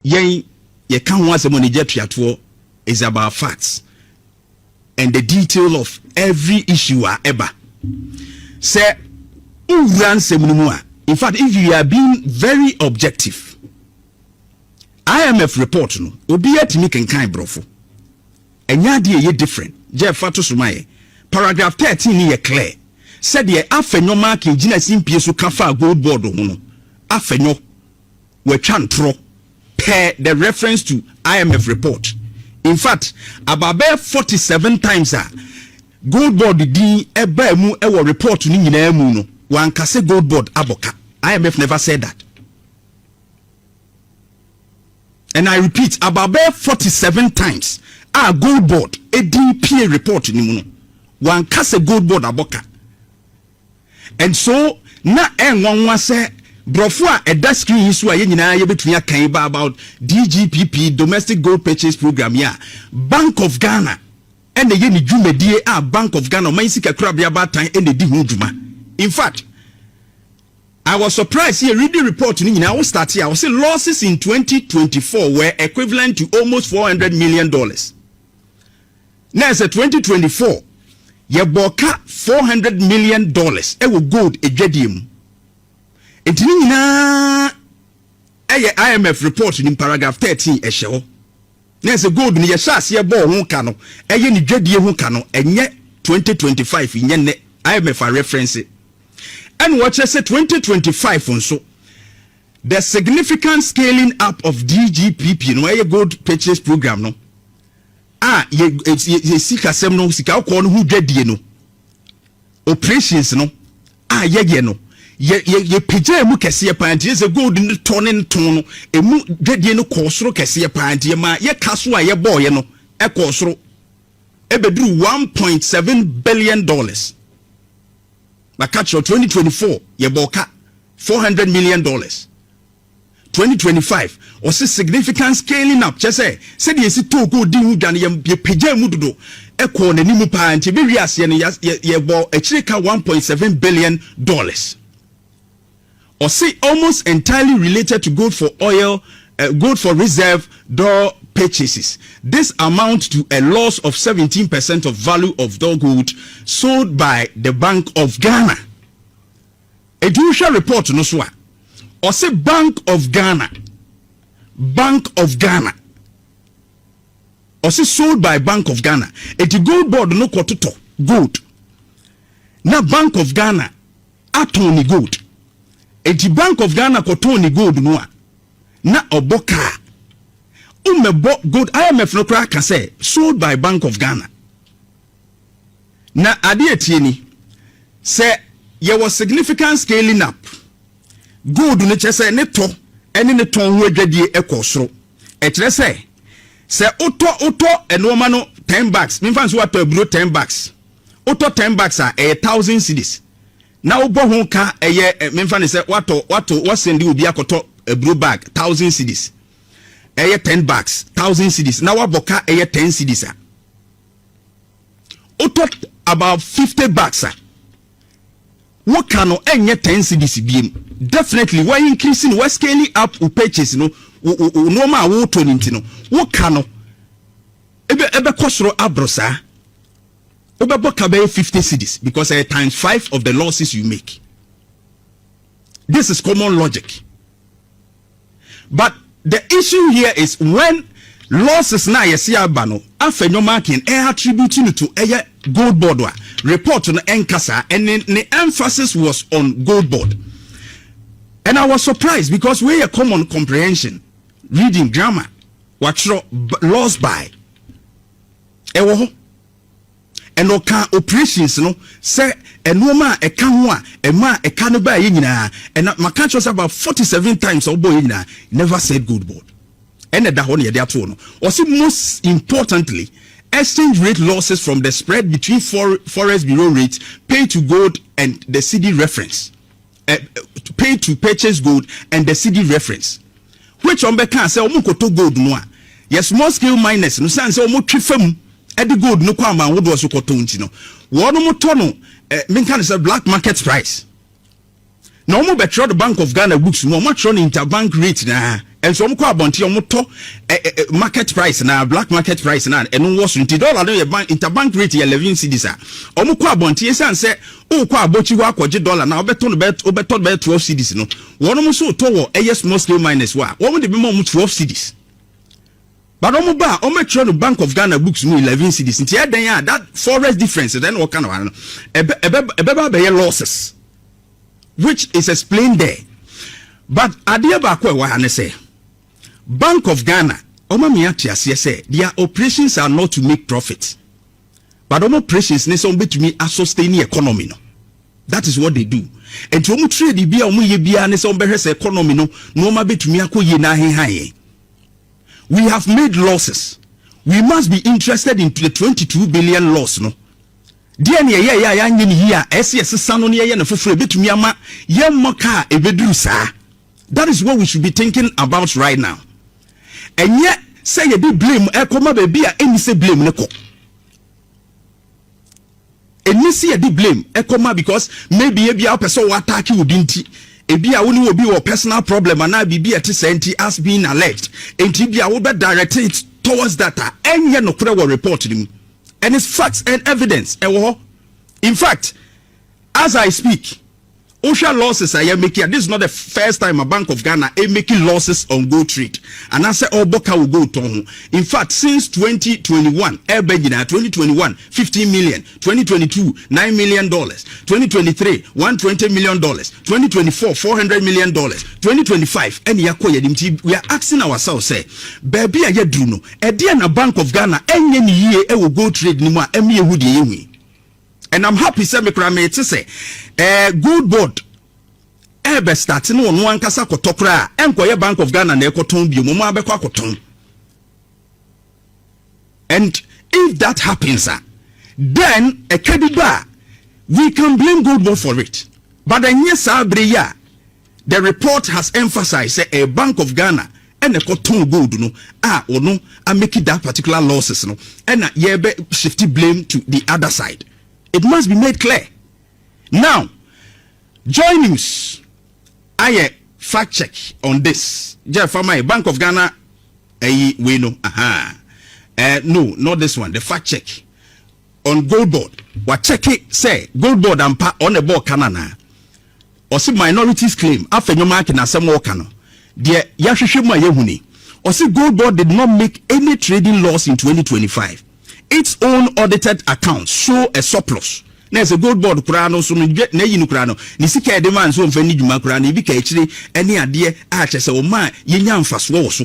Yɛn, yɛka ho asɛm wɔ Niger tuatoɔ is about facts and the detail of every issue a ɛba. Sɛ wo wura nsɛm no mu a, in fact if you are being very objective, IMF report no obiara tumi kenkan brɔfo. Ɛnyɛ adeɛ ɛyɛ different. Jeff fa to so ma yɛn. Paragraph 13 no yɛ clear. Sɛdeɛ Afenyo Markin gyina simpie so ka faa gold board ho no, Afenyo, wɔatwa ntorɔ per the reference to IMF report. In fact, about bɛyɛ forty seven times a Gold Board din baa mu wɔ report no nyinaa mu no, wɔanka sɛ Gold Board abɔ ka. IMF never said that. And I repeat, about bɛyɛ forty seven times a Gold Board din pie report no mu no, wɔanka sɛ Gold Board abɔ ka. And so na ɛnwanwa sɛ brɔfo a ɛda screen yi so a yɛn nyinaa yɛbɛtumi aka yi ba about DGPP, Domestic Gold Purchase Program, yi a Bank of Ghana na ɛyɛ ne dwumadie a Bank of Ghana, Ɔman Sikakorabea Abaatan, na ɛdi ho dwuma. In fact, I was surprised sɛ yɛredi report no nyinaa, wo start a wɔse losses in 2024 were equivalent to almost 400 million dollars. Na ɛsɛ twenty twenty four yɛ bɔɔ ka four hundred million dollars ɛwɔ gold adwadie mu nti ne nyinaa ɛyɛ IMF report nim paragraph thirteen ɛhyɛ hɔ na ɛsɛ gold no yɛ hyɛ aseɛ bɔɔ ho ka no ɛyɛ ne dwadie ho ka no ɛnyɛ twenty twenty five nyɛ nnɛ IMF a reference ɛna ɔkyerɛ sɛ twenty twenty five nso the significant scaling up of DGPP no ɛyɛ gold purchase program no a yɛ yɛ sikasɛm no sikakɔkɔɔ no ho dwadie no operations no a yɛyɛ no yɛ yɛ yɛpagyaa mu kɛseɛ paa nti sɛ gold no tɔ ne ntɔn no ɛmu dwadie no kɔɔ soro kɛseɛ paa nti yɛma yɛka so a yɛbɔɔyɛ no ɛkɔɔ soro ɛbɛduru 1.7 billion dollars baka kyerɛ 2024 yɛbɔɔ ka 400 million dollars Twenty twenty five, ɔse significant scaling up kyerɛ sɛ sɛdeɛ yɛsi too gold dii ho dwa no yɛ yɛ pagyaa mu dodo ɛkɔɔ n'anim paa nti ɛbɛwie aseɛ no yɛ yɛ yɛbɔɔ akyire ka one point seven billion dollars. Ɔse almost entirely related to gold for oil uh, gold for reserve d'or purchases. This amount to a loss of seventeen percent of value of d'or gold sold by the Bank of Ghana. Enti wohwɛ report no so a, ɔse Bank of Ghana, Bank of Ghana, ɔse sold by Bank of Ghana. Enti gold board no kɔtotɔ gold na Bank of Ghana atɔn ne gold. Enti Bank of Ghana kɔtɔn ne gold no a, na ɔbɔ kaa. Wommɛbɔ gold, IMF no koraa ka sɛ sold by Bank of Ghana. Na ade a ɛteɛ ni, Sɛ yɛwɔ significant scaling up, gold no kyerɛ sɛ ne tɔ ne ne tɔn ho adwadie kɔɔ soro. Ɛkyerɛ sɛ, sɛ wotɔ wotɔ nnoɔma no ten bags, memfa no sɛ woatɔ aburo ten bags, wotɔ ten bags a, ɛyɛ thousand cedis. Na wobɔ ho ka ɛyɛ, memfa no sɛ woatɔ woato woasɛnde obi akɔtɔ aburo bag thousand cedis, ɛyɛ ten bags, thousand cedis, na woabɔ ka ɛyɛ ten cedis a, wotɔ about fifty bucks a woka no ɛnyɛ ten cedis biem definitely wa increase no wa scaling up wo purchase no wo wo wo nneɛma a wotɔ no nti no woka no ebe ɛbɛkɔ soro aboro saa wobɛbɔ ka bɛyɛ fifty cedis because ɛyɛ times five of the losses you make this is common logic. but the issue here is when losses no a yɛse aba no afɛ nneɛma aken ɛ attribute no to ɛyɛ gold board a report no ɛnka saa ɛne ne emphasis was on gold board and I was surprised because wei yɛ common comprehension reading grammar watwerɛ loss by ɛwɔ hɔ And ɔkaa operations no sɛ nnoɔma a ɛka ho a ɛmaa ɛka no baeɛ nyinaa ɛna maka akyerɛ wo sɛ about forty seven times a wɔbɔeɛ nyinaa never said gold board ɛna ɛda hɔ na yɛde atoo no ɔse most importantly exchange rate losses from the spread between for, forex bureau rates paid to gold and the cedi reference eh, pay to purchase gold and the city reference which wɔn bɛka sɛ wɔn nkoto gold no a yɛ small scale miners no san sɛ wɔn twe fam de gold no kɔ aman ahodoɔ so kɔtɔ nti no wɔn tɔ no eh, menka no sɛ black market price na wɔn bɛtwerɛ the bank of ghana books mu wɔn atwerɛ no interbank rate naa Nso wɔn kɔ abɔnten wɔn tɔ ɛ ɛ ɛ market price na black market price na ɛno wɔ so nti dollar no yɛ bank interbank rate yɛ eleven cedis a wɔn kɔ abɔnten esan sɛ ɔrekɔ abɔkyi hɔ akɔgye dollar na ɔbɛtɔ no bɛyɛ ɔbɛtɔ no bɛyɛ twelve cedis no wɔn nso tɔ wɔ ɛyɛ small scale miners wɔ a wɔn de bɛma wɔn twelve cedis but wɔn ba a wɔn atwerɛ no bank of ghana books mu eleven cedis nti ɛdɛn a that forex difference dɛn na wɔka no ano ɛbɛ ɛbɛ ɛbɛba abɛyɛ losses. which is explained there but adeɛ baako a ɛwɔ ha ne sɛ Bank of Ghana wɔma me ate aseɛ sɛ their operations are not to make profit but wɔn operations ne sɛ wɔbɛtumi asustain ne economy no that is what they do nti wɔn trade bi a wɔn yɛ biara ne sɛ wɔbɛhwɛ sɛ economy no nneɛma bɛtumi akɔ yie na ahehan yɛn we have made losses we must be interested in the 22 billion loss no Deɛn na yɛyɛeɛ a yɛanyɛ no yie a ɛyɛ sɛ yɛsesa no na yɛyɛ no foforɔ a ɛbɛtumi ama yɛmmɔ ka a ɛbɛduru saa? That is what we should be thinking about right now. Ɛnyɛ sɛ yɛde blame ɛrekɔma baabi a ɛnni sɛ blame no kɔ. Ɛnni sɛ yɛde blame ɛkɔma because maybe ebi a wopɛ sɛ wɔ attack wo bi nti ebi a wo ne wɔ bi wɔ personal problem anaa biribi a ɛte sɛ nti as being alleged nti bi a wobɛ direct it towards that a ɛnyɛ nokorɛ wɔ report no mu. and it's facts and evidence ɛwɔ hɔ in fact as i speak wohwɛ losses a yɛmaki a this is not the first time a bank of ghana ɛmaki losses on gold trade anaasɛ ɔbɔ ka wɔ gold tɔn ho in fact since 2021 ɛbɛ nyinaa 2021 15 million 2022 9 million dollars 2023 120 million dollars 2024 400 million dollars 2025 ɛne yɛakɔ yɛnim nti we are asking ourselves sɛ baabi a yɛaduru no Ɛdeɛn na Bank of Ghana ɛnyɛ no yie wɔ gold trade no mu a ɛma yɛhu deɛ yɛhu yi? And I'm happy sɛ me koraa mete sɛ eh, gold board ɛbɛ start ne ɔno ankasa kɔtɔ koraa ɛnkɔyɛ Bank of Ghana na ɛkɔtɔn bio mo mo abɛkɔ akɔtɔn and if that happens a then ɛtwa bi ba a we can blame gold board for it but ɛnyɛ saa bere yi a The report has emphasised sɛ ɛyɛ Bank of Ghana na ɛkɔtɔn gold no a ɔno a make that particular losses no na yɛbɛ shift blame to the other side. It must be made clear. Now, Joy News ayɛ fact check on this. Gyɛ fa ma yɛ Bank of Ghana ɛyi wei no, aha, eh, no, not this one, the fact check. On goal board wakyɛke sɛ goal board ampa ɔn na ɛbɔɔ ka no anaa ɔse minorities claim afɛ nyoma ake na asɛm ɔɔka no deɛ yahwehwɛ mu a yahu ni ɔse goal board did not make any trading loss in 2025 its own audited accounts show a surplus na ɛsɛ gold board koraa no so no n'ayi no koraa no ne sika ɛde maa nso ɔmfa ni dwuma koraa no ebi ka akyire ɛne adeɛ a kyɛ sɛ ɔma a yɛnya mfasoɔ wɔ so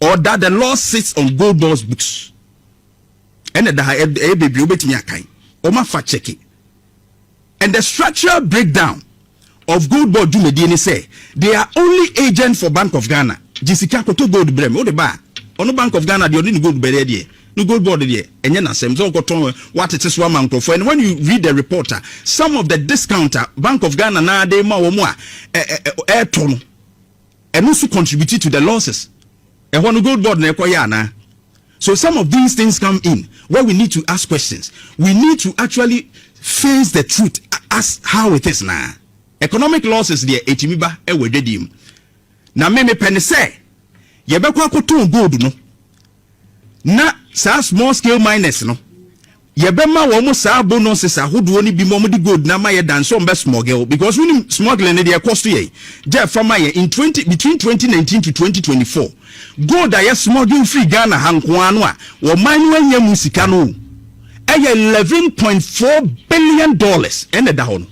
Or that the Lord sits on Goldmore's books. Ɛna ɛda ha, ɛyɛ bebree, wobɛtumi akan. Wɔn afa kyɛke. And the structural breakdown of gold board dwumadie ne sɛ they are only agent for Bank of Ghana. Gye sika koto gold brɛ me, wode ba a, ɔno Bank of Ghana deɛ ɔde ne gold bɛdeɛ deɛ, no gold board deɛ, ɛnyɛ n'asɛm sɛ ɔkɔtɔn watete so ama nkurɔfoɔ. And when you read the report a, some of the discount a Bank of Ghana naa de ma wɔn a ɛtɔ no, Ɛno nso contribute to the losses. Ɛhɔ no gold board na ɛkɔyɛ anaa? So some of these things come in where we need to ask questions. We need to actually face the truth as how it is naa. Economic losses deɛ ɛtumi ba wɔ adwadie mu. Na me mepɛ ne sɛ yɛbɛkɔ akɔtɔn gold no. Na saa small scale miners no, yɛbɛma wɔn saa bonuses ahodoɔ no bi ma wɔde gold no ama yɛ dan sɛ wɔbɛ smuggle because wonim smuggling no deɛ ɛkɔ so yɛn gya ɛfa ma yɛn in 20 between 2019 to 2024 gold a yɛ smuggle firi Ghana ha nkoa no a wɔman no anya mu sika no ɛyɛ 11.4 billion dollars ɛna ɛda hɔ no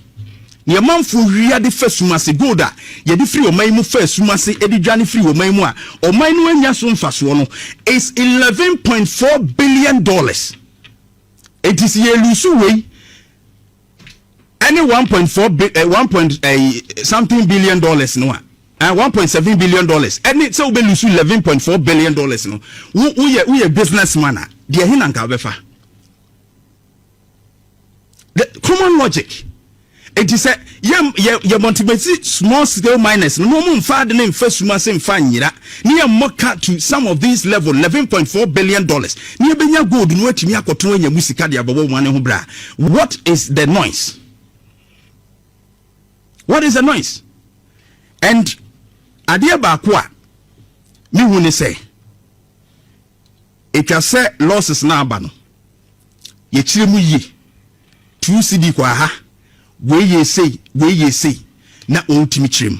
Nea ɔmanfoɔ wia de fa sum ase, gold a yɛde firi ɔman yi mu fa sum ase de dwane firi ɔman yi mu a ɔman no annya so mfasoɔ no is eleven point four billion dollars. Enti sɛ yɛ luusu wei ɛne one point four bi eh, one point eh, something billion dollars no a eh, one point seven billion dollars ɛne sɛ wobɛ luusu eleven point four billion dollars no woyɛ woyɛ business man a deɛ ɛhe na nka wobɛfa the common logic eti sɛ yɛ yɛ yɛ motivate small scale miners no mo mo nfa adi ne nfa sum ase nfa nyira ne yɛ mmɔ ka to some of these level eleven point four billion dollars ne ebenya gold no atumi akɔtɔn anya mu sika de abɛbɔ wɔn ne ho bra what is the noise what is the noise and adeɛ baako a mehu ne sɛ etwa sɛ losses na aba no. Yɛkyerɛ mu yie. Tuu cedi kɔ aha, wei yɛɛ sei, wei yɛɛ sei, na wɔtumi kyerɛ mu.